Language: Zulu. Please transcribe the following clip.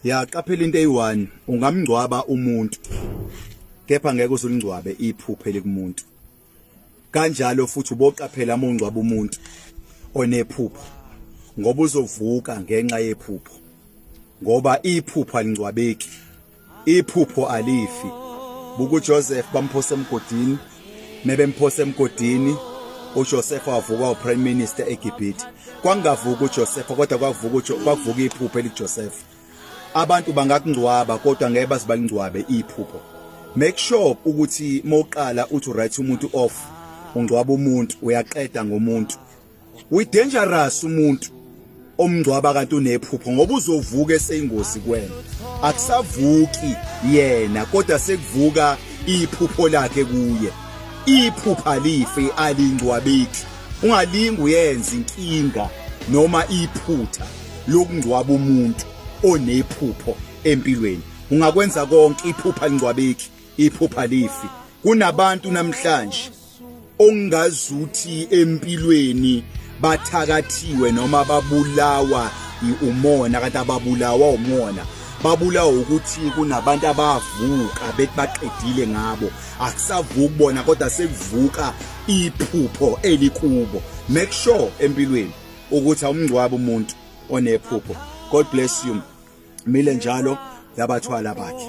ya qaphela into eyi-one ungamngcwaba umuntu kepha ngeke uzulingcwabe iphupho elikumuntu kanjalo futhi uboqaphela uma ungcwaba umuntu onephupho ngoba uzovuka ngenxa yephupho ngoba iphupho alingcwabeki iphupho alifi buka uJoseph bamphosa emgodini mebemphosa emgodini uJoseph wavuka uprime minister eGibhithe kwangavuka uJoseph kodwa kwavuka kwavuka iphupho eliJoseph abantu bangakungcwaba kodwa ngeke bazibalingcwabe iphupho make sure ukuthi mawuqala uthi right umuntu off ungcwaba umuntu uyaqeda ngomuntu we dangerous umuntu omngcwaba kanti unephupho ngoba uzovuka eseyingozi kwena akusavuki yena kodwa sekuvuka iphupho lakhe kuye iphupha life alingcwabeki ungalingi uyenza inkinga noma iphutha lokungcwaba umuntu onephupho empilweni ungakwenza konke iphupha lingcwabeki iphupha lifi kunabantu namhlanje ongazuthi empilweni bathakathiwe noma babulawa iumona kanti ababulawa umona babulawa ukuthi kunabantu abavuka bethi baqedile ngabo akusavuki bona kodwa sekuvuka iphupho elikubo make sure empilweni ukuthi awumngcwabo umuntu onephupho god bless you mile njalo yabathwala bakhe